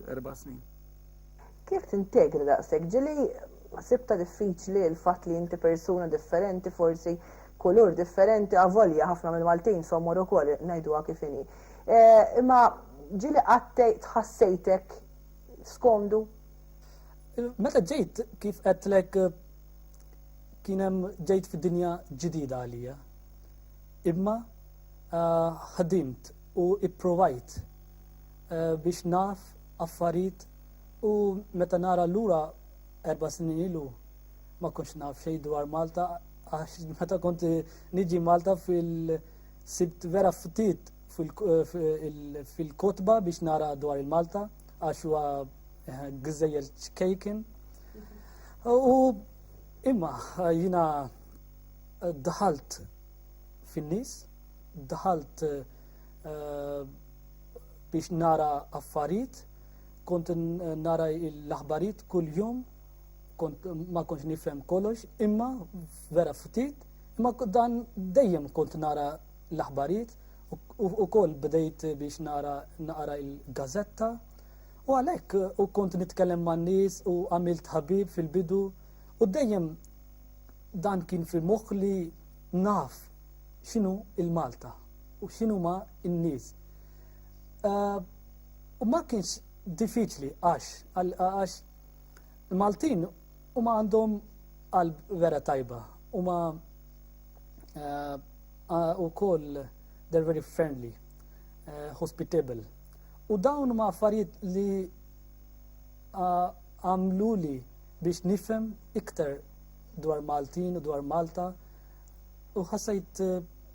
erba' snin. Kif tintegri daqshekk? Ġieli sibta diffiċli l-fatt li inti persuna differenti forsi kulur differenti avolja ħafna mill-Maltin somor ukoll ngħiduha kif inhi. Eh, imma ġieli qatt tħassejtek skomdu? Meta ġejt kif qedtlek kien hemm ġejt fid-dinja ġdida għalija. Imma eh, ħdimt u ipprovajt biex naf affarit u meta nara lura erba' snin ilu ma kontx naf xejn dwar Malta għax meta kont niġi Malta fil sibt vera ftit fil-kotba biex nara dwar il-Malta għax huwa eh, gżejjer ċkejken. U imma jina daħalt fin-nies, daħalt eh, Eh, biex nara affarijiet, kont nara l-aħbarijiet kull-jum, kont ma kontx nifhem kollox, imma vera ftit, imma dan dejjem kont nara l-aħbarijiet u koll bdejt biex nara naqra il-gazetta u għalek u kont nitkellem ma' nis u għamilt ħabib fil-bidu u dejjem dan kien fi moħħ li naf xinu il-Malta u x'inhuma n-nies. U ma kienx diffiċli għax għax Maltin huma għandhom qalb vera tajba huma wkoll they're very friendly, hospitable. U dawn huma affarijiet li għamluli biex nifhem iktar dwar Maltin u dwar Malta u ħassajt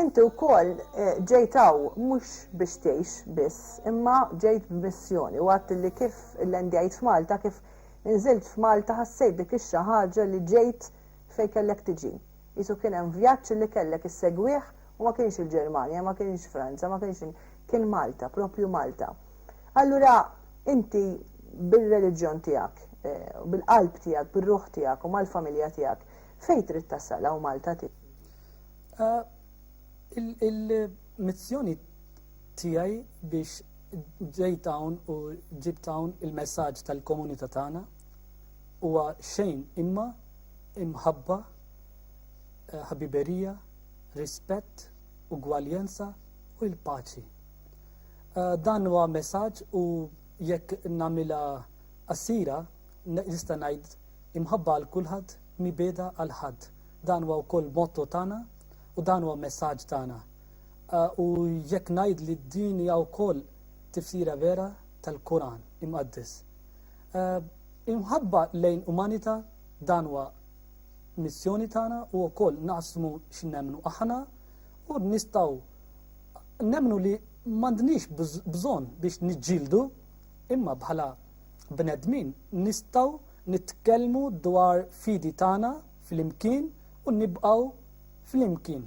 Inti wkoll ġejt hawn mhux biex tgħix biss, imma ġejt b'missjoni u għedt li kif illendjajt f'Malta, kif inżilt f'Malta ħassejt dik ix-xi ħaġa li ġejt fejn kellek tiġi. Qisu kien hemm vjaġġ li kellek issegwih u ma kienx il-Ġermanja, ma kienx Franza, ma kienx il-, kien Malta, proprju Malta. Allura inti bir-reliġjon tiegħek, bil-qalb tiegħek, bir-ruħ tiegħek u mal-familja tiegħek, fejn trid tasal hawn Malta tiġi? Il-missjoni tiegħi biex ġejt hawn u ġibt hawn il-messaġġ tal-komunità tagħna huwa xejn imma imħabba, eh, ħabiberija, rispett, ugwaljanza u l-paċi. Eh, dan huwa messaġġ u jekk nagħmilha qasira nista' ngħid imħabba għal kulħadd mibeda għal ħadd Dan huwa wkoll motto tagħna u dan huwa messaġġ tagħna. Eh, u jekk ngħid li din hija wkoll tifsira vera tal-Quran imqaddes. Eh, imħabba lejn umanità dan huwa missjoni tagħna u wkoll naqsmu x'nemmnu aħna u nistgħu nemmnu li m'għandniex bżonn biex niġġieldu imma bħala bnedmin nistgħu nitkellmu dwar fidi tagħna flimkien u nibqgħu flimkien.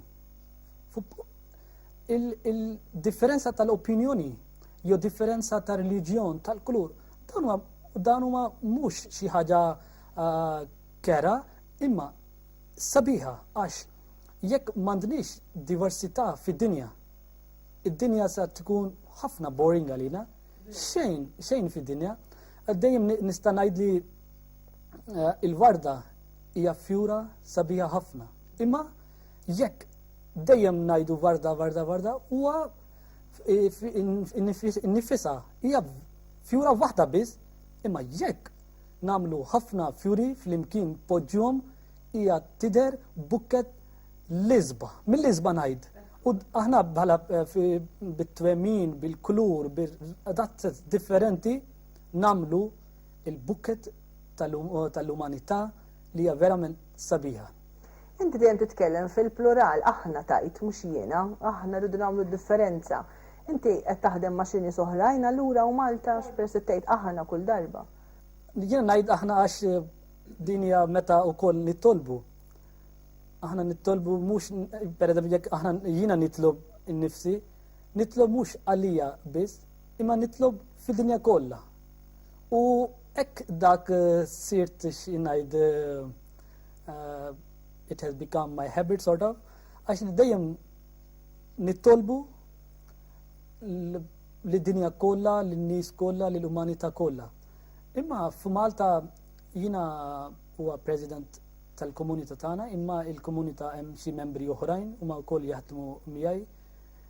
Il-differenza il tal-opinjoni jew differenza ta' reliġjon, tal-kulur, dan huma mhux xi ħaġa uh, kera, imma sabiħa għax jekk m'għandniex diversità fid-dinja, id-dinja sa tkun ħafna boring għalina, xejn, xejn fid-dinja, dejjem nista' ngħid li Eh, il-warda hija fjura sabiħa ħafna. Imma jekk dejjem ngħidu warda, warda, warda, huwa nifisa hija fjura waħda biss, imma jekk namlu ħafna fjuri fl-imkien poġġjom hija tider bukket l-izba. Mill-izba ngħid. U aħna bħala eh, bit-twemmin, bil-kulur, bil differenti namlu il-bukkett tal-umanità li hija verament sabiħa. Inti dejjem titkellem fil-plural, aħna tgħid, mhux jiena, aħna rridu nagħmlu d-differenza. Inti qed taħdem ma' xi nies oħrajn allura u Malta x'peress li tgħid aħna kull darba? Jiena ngħid aħna għax din hija meta wkoll nitolbu. Aħna nitolbu mhux pereżempju jekk aħna jiena nitlob innifsi, nitlob mhux għalija biss, imma nitlob fid-dinja kollha. U hekk dak sirt xinajt uh, it has become my habit sort of, għax li dejjem nittolbu li dinja kollha, li nies kollha, li l-umanità kollha. Imma f'Malta jiena huwa president tal-komunità tagħna, imma il-komunità hemm xi membri oħrajn huma wkoll jaħdmu miegħi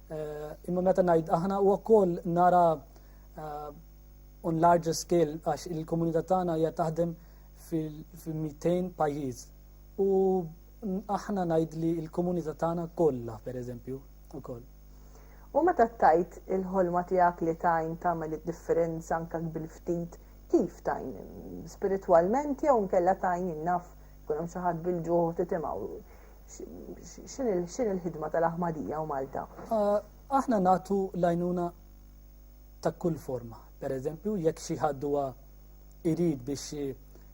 Eh, imma meta ngħid aħna u wkoll nara eh, on larger scale għax il-komunità tagħna hija taħdem fil-200 pajjiż. U aħna ngħid li l-komunità tagħna kollha pereżempju ukoll. U meta tajt il-ħolma tiegħek li tajn tagħmel id-differenza anke bil-ftit kif tajn spiritwalment jew nkella tajn innaf kun hemm xi ħadd bil-ġuħ titimgħu. X'inhi l-ħidma tal-Aħmadija u Malta? Aħna nagħtu l-għajnuna ta' kull forma. Per eżempju, jekk xi ħadd huwa irid biex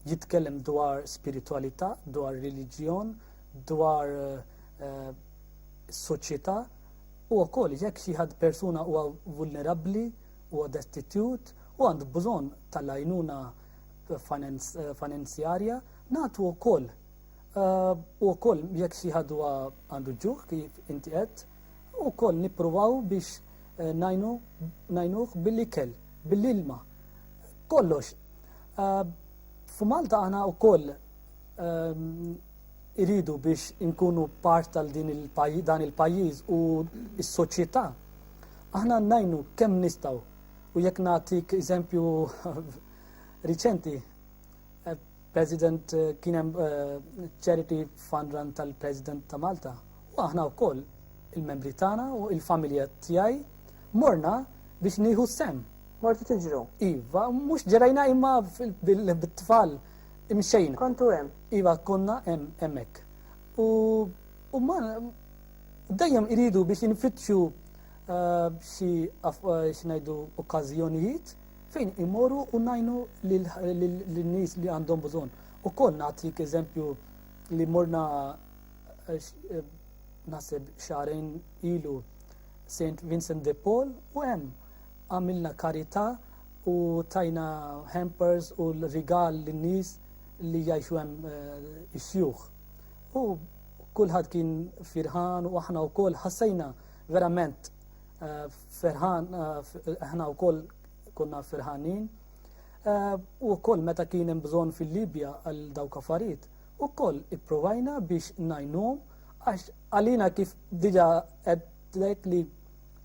jitkellem dwar spiritualità, dwar reliġjon, dwar eh, soċjetà, u wkoll jekk xi ħadd persuna huwa vulnerabbli, huwa destitut, u għandu bżonn tal-għajnuna eh, finanzjarja, nagħtu wkoll U wkoll jekk xi ħadd huwa għandu ġuħ kif inti qed, ukoll nippruvaw biex eh, najnu najnuh bil-ikel, bil-ilma. Kollox. Eh, F'Malta aħna wkoll ehm, iridu biex inkunu part tal din dan il-pajjiż u s-soċjetà. Aħna najnu kemm nistgħu u jekk nagħtik eżempju riċenti eh, President kien hemm charity fund run tal-President ta' Malta. U aħna wkoll il-membri tagħna u il-familja tiegħi morna biex nieħu sem. Mortu tiġru? Iva, mhux ġerajna imma bit-tfal imxejna. Kontu hemm? Iva, konna hemm hemmhekk. U huma dejjem iridu biex infittxu xi ngħidu okkażjonijiet Fejn immorru u ngħinu lin-nies li għandhom bżonn. Ukoll nagħtik eżempju li morna eh, eh, naħseb xarejn ilu St. Vincent de Paul u hemm għamilna karità u tajna hampers u l-rigal lin-nies li jgħixu hemm eh, is-sjuħ. U kulħadd kien firħan u aħna wkoll ħassejna verament Eh, ferħan, eh, aħna u koll konna ferħanin. Eh, u koll meta kien hemm bżonn fil-Libja għal dawk affarijiet, u koll ipprovajna biex najnum għax għalina kif diġa għedlek li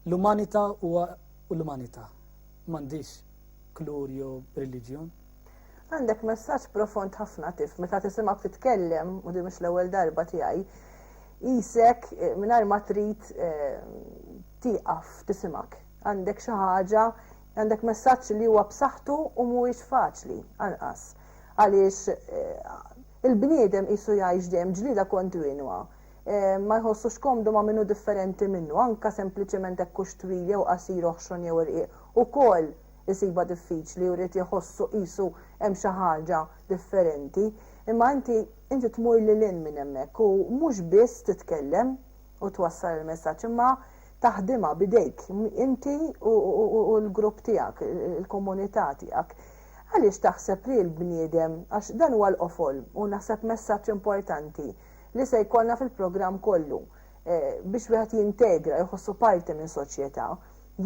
l-umanita u l-umanita mandiġ klur jew religjon. Għandek messaġġ profond ħafna Tiff, meta tisimgħek titkellem, u din mhix l-ewwel darba tiegħi, qisek mingħajr ma trid tieqaf tisimgħek. Għandek xi ħaġa, għandek messaġġ li huwa b'saħħtu u mhuwiex faċli anqas. Għaliex il-bniedem qisu jgħix dejjem ġlieda kontinwa. Ma jħossux komdu ma' min hu differenti minnu, anke sempliċement hekk hux twil jew qasir, oħxon jew irqiq, ukoll isibha diffiċli u jrid iħossu qisu hemm xi ħaġa differenti. Imma inti inti tmur lil hinn minn hemmhekk u mhux biss titkellem u twassal il-messaġġ imma taħdimha b'idejk inti u l-grupp tiegħek, il-komunità tiegħek. Għaliex taħseb li l-bniedem, għax dan huwa l-qofol u naħseb messaġġ importanti li se jkollna fil-programm kollu biex wieħed jintegra, jħossu parti minn soċjetà,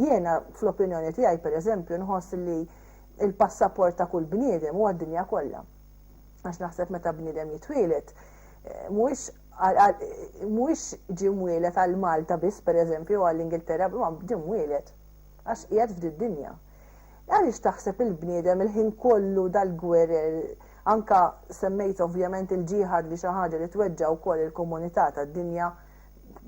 Jiena, fl-opinjoni tiegħi, pereżempju, nħoss li l-passaport ta' kull bniedem huwa d-dinja kollha. Għax naħseb meta bniedem jitwieled, mhuwiex mhuwiex ġie mwieled għal Malta biss, pereżempju, jew għall-Ingilterra, imma ġie mwieled għax qiegħed f'did-dinja. Għaliex taħseb il-bniedem il-ħin kollu dal-gwerer, anke semmejt ovvjament il-ġiħad li xi ħaġa li tweġġa' wkoll il-komunità tad-dinja,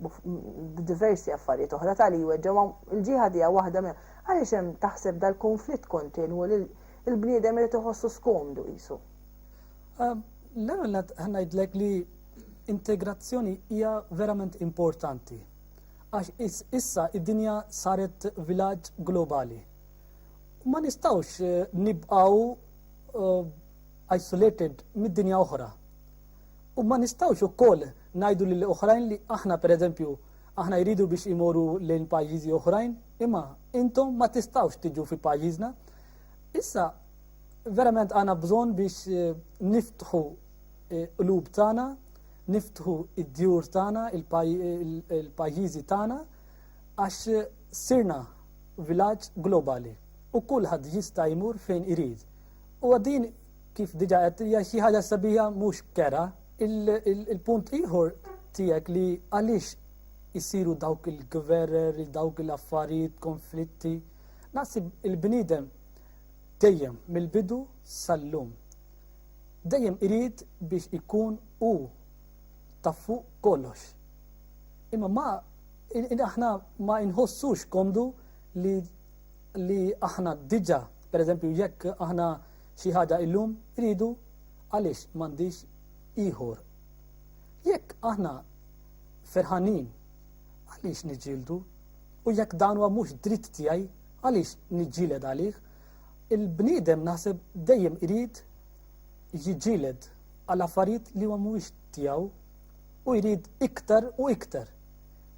b'diversi affarijiet oħra tali jweġġgħu il-ġieħa tiegħu waħda minn għaliex hemm taħseb dal-kunflitt kontinwu li l-bniedem irid iħossu skomdu qisu. Ehm, l-ewwel nett ngħidlek li integrazzjoni hija verament importanti għax issa id-dinja saret vilaġġ globali. Ma nistawx eh, nibqaw eh, isolated mid-dinja oħra. U ma nistgħux ukoll ngħidu lil oħrajn li aħna pereżempju, aħna jridu biex imorru lejn pajjiżi oħrajn, imma intom ma tistgħux tiġu fi pajjiżna. Issa verament għandna bżonn biex eh, niftħu eh, qlub tagħna, niftħu id-djur tagħna, il-pajjiżi tagħna, għax sirna vilaġġ globali u kulħadd jista' jmur fejn irid. U għaddin Kif diġa qed hija xi ħaġa sabiħa mhux kera. Il-punt ieħor tiegħek li għaliex isiru dawk il-gwerer, dawk l-affarijiet, konflitti, naħseb il-bniedem dejjem mill-bidu sal-lum. Dejjem irid biex ikun u ta' fuq kollox. Imma ma aħna ma inħossux komdu li li aħna diġa, per eżempju, jekk aħna Xi ħaġa illum iridu għaliex m'għandix ieħor. Jekk aħna ferħanin għaliex niġġieldu u jekk dan huwa mhux dritt tiegħi għaliex niġġieled għalih. Il-bniedem naħseb dejjem irid jiġġieled għal affarijiet li huwa mhuwiex tiegħu u jrid iktar u iktar.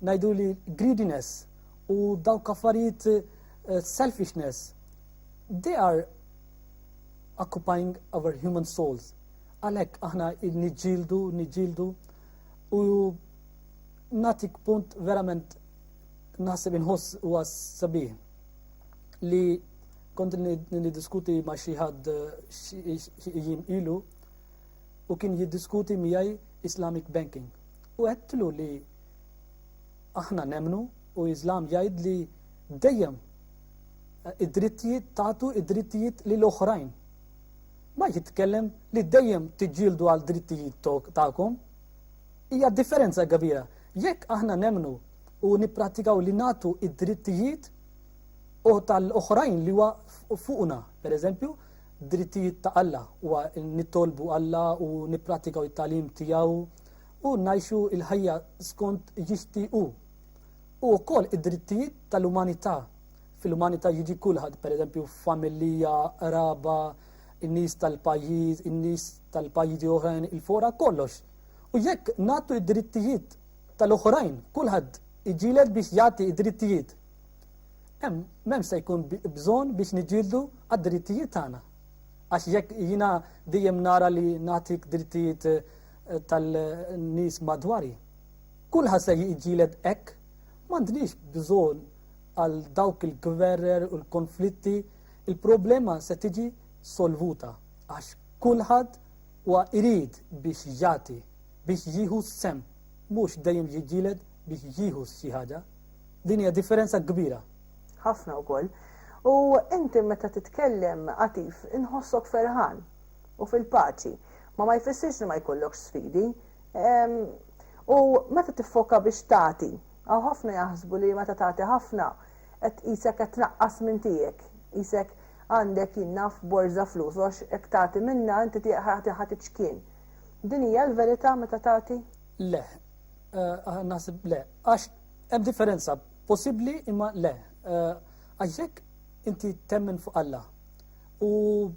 Ngħidu li greediness u dawk affarijiet eh, selfishness They are occupying our human souls. Għalhekk aħna niġġieldu, niġġieldu u natik punt verament naħseb inħoss u għas sabiħ li kont nidiskuti ma xi ħadd jim ilu u kien jiddiskuti miegħi Islamic banking. U għedtlu li aħna nemnu u Islam jgħid li dejjem id-drittijiet tagħtu id-drittijiet lil oħrajn. Ma jitkellem li dejjem tiġġieldu għal drittijiet tagħkom. Hija differenza kbira. Jekk aħna nemnu u nipprattikaw li nagħtu id-drittijiet u tal-oħrajn li huwa fuqna, pereżempju, drittijiet ta' Alla huwa nittolbu Alla u nipprattikaw it-talim tiegħu u ngħixu il-ħajja skont jixtiequ. U wkoll id-drittijiet tal-umanità Fil-umanità jiġi kulħadd, pereżempju familija, qraba, in-nies tal-pajjiż, in-nies tal-pajjiżi oħrajn il-fora kollox. U jekk nagħtu id-drittijiet tal-oħrajn, kulħadd iġilet biex jagħti id-drittijiet. Hemm m'hemm se jkun bżonn biex niġildu għad-drittijiet tagħna. Għax jekk jiena dejjem nara li nagħtik drittijiet eh, tal-nies madwari, kulħadd se jiġilet hekk m'għandniex bżonn għal dawk il-gwerrer u l-konflitti, il-problema se tiġi solvuta għax kulħadd huwa irid biex jagħti, biex jieħu s-sehem, mhux dejjem jiġġieled biex jieħu xi ħaġa. Din hija differenza kbira. Ħafna wkoll. U inti meta titkellem għatif inħossok ferħan u fil-paċi. Ma ma jfissirx li ma jkollokx sfidi. U meta tiffoka biex tagħti, Hawn ħafna jaħsbu li meta tagħti ħafna qed qisek qed tnaqqas minn tiegħek, qisek għandek jien naf borża flus u għax hekk tagħti minnha inti tiegħek ħa tiċkien. Din hija l-verità meta tagħti? Le. Naħseb le. Għax hemm differenza possibbli imma le. Għax jekk inti temmen fuq Alla u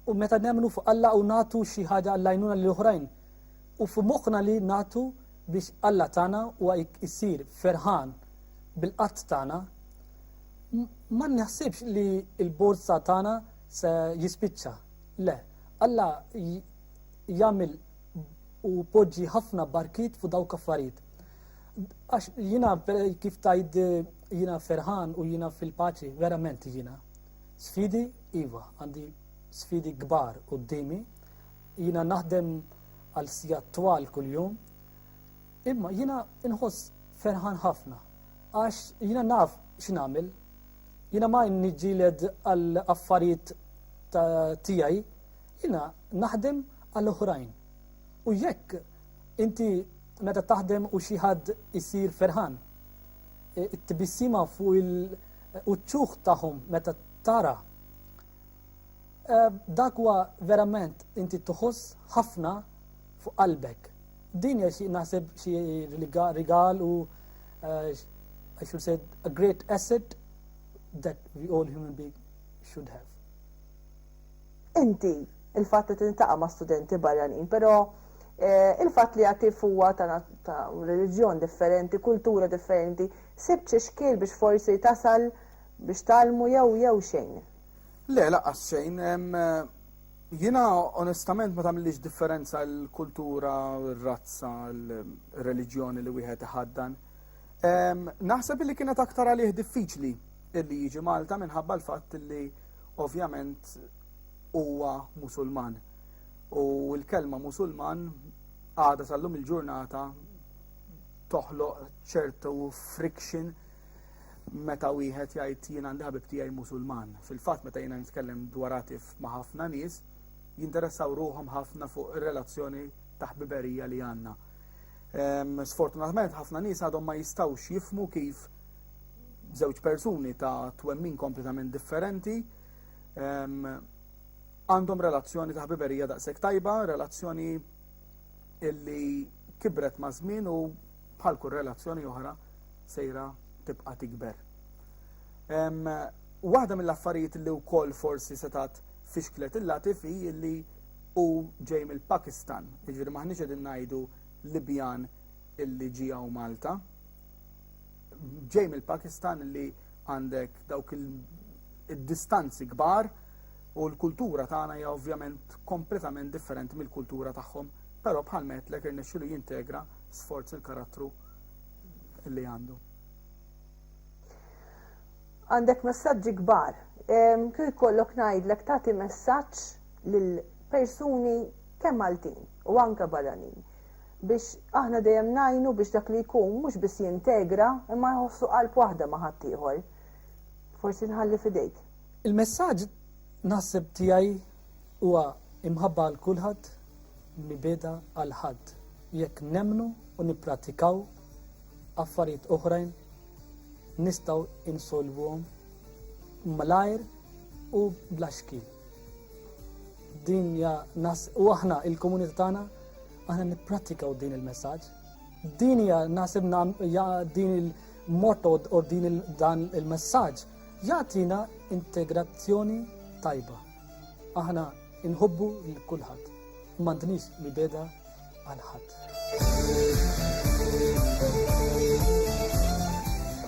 u meta nemmnu fuq Alla u nagħtu xi ħaġa għall-għajnuna lil oħrajn U f'moħħna li nagħtu biex Alla tagħna u jsir ferħan bil-qatt tagħna, ma naħsibx li l-borża tagħna se jispiċċa. Le, Alla jagħmel u poġġi ħafna barkiet fuq dawk affarijiet. Għax jiena kif tajd jiena ferħan u jiena fil-paċi, verament jiena. Sfidi, iva, għandi sfidi kbar qudiemi, Jiena naħdem għal sigħat twal kuljum, imma jiena inħoss ferħan ħafna għax jiena naf x'nagħmel. Jiena ma niġġieled għal affarijiet ta' tiegħi, jiena naħdem għal oħrajn. U jekk inti meta taħdem u xi ħadd isir ferħan, it-tbissima fuq il-uċċuħ tagħhom meta tara Dak huwa verament inti tuħoss ħafna fuq qalbek. Din hija xi naħseb xi rigal u eh, I should say a great asset that we all human being should have. Inti il-fatt li tintaqa' ma' studenti barranin, però eh, il-fatt li għati huwa ta' reliġjon differenti, kultura differenti, sibt xi xkiel biex forsi tasal biex talmu jew jew xejn. Le, laqqas xejn. Jiena onestament ma tagħmilix differenza l-kultura, r-razza, l-reliġjoni li wieħed iħaddan. Naħseb li kienet aktar għalih diffiċli illi jiġi Malta minħabba l-fatt li ovvjament huwa Musulman. U l-kelma Musulman għada sal-lum il-ġurnata toħloq ċertu friction meta wieħed jgħid jien għandi ħabib tiegħi Musulman. Fil-fatt meta jiena nitkellem dwar għatif ma' ħafna nies, jinteressaw ruhom ħafna fuq ir-relazzjoni ta' ħbiberija li għandna. Ehm, sfortunatament ħafna nies għadhom ma jistgħux jifmu kif żewġ persuni ta' twemmin kompletament differenti ehm, għandhom relazzjoni ta' ħbiberija daqshekk tajba, relazzjoni illi kibret ma' żmien u bħal kull relazzjoni oħra sejra tibqa' tikber. Waħda mill-affarijiet li wkoll forsi setat fixklet il-Latifi li u ġej mill-Pakistan, jiġifieri maħniex qegħdin ngħidu Libjan illi ġi hawn Malta. Ġej mill-Pakistan li għandek dawk il-distanzi kbar u l-kultura tagħna hija ovvjament kompletament differenti mill-kultura tagħhom, però bħal metlek irnexxilu jintegra sforz il-karattru li għandu. Għandek messaġġi kbar. Kif ikollok ngħidlek tagħti messaġġ lil persuni kemm Maltin u anke barranin biex aħna dejjem najnu biex dak li jkun mhux biss jintegra imma jħossu qalb waħda ma' ħaddieħor. Forsi nħalli fidejk. Il-messaġġ naħseb tiegħi Huwa imħabba għal kulħadd, mibgħeda għal ħadd. Jekk nemmnu u nipprattikaw affarijiet oħrajn, nistgħu insolvuhom malajr u bla xkil. Din hija nas u aħna il-komunità tagħna aħna nipprattikaw din il-messaġġ. Din hija naħseb din il- motto u din dan il-messaġġ jagħtina integrazzjoni tajba. Aħna inħobbu lil kulħadd u m'għandniex mibegħda għal ħadd.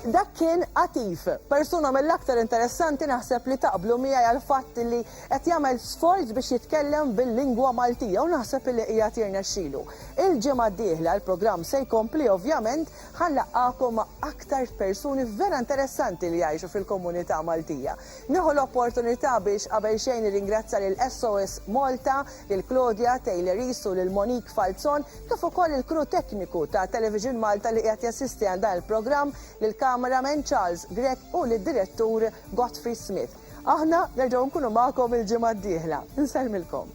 Dak kien Atif, persuna mill-aktar interessanti naħseb li taqblu miegħi għal fatt li qed jagħmel sforz biex jitkellem bil-lingwa Maltija u naħseb li hija tirnexxilu. Il-ġimgħa d-dieħla l-programm se jkompli ovvjament ħallaqakom ma' aktar persuni vera interessanti li jgħixu fil-komunità Maltija. Nieħu l-opportunità biex qabel xejn nirringrazzja lil SOS Malta, lil Claudia Taylorice u lil Monique Falzon kif ukoll il-crew tekniku ta' Television Malta li qiegħed jassisti għal dan il-programm, lill-cameraman Charles Grech u lid-direttur Godfrey Smith. Aħna nerġgħu nkunu magħkom il-ġimgħa d-dieħla. Insellmilkom.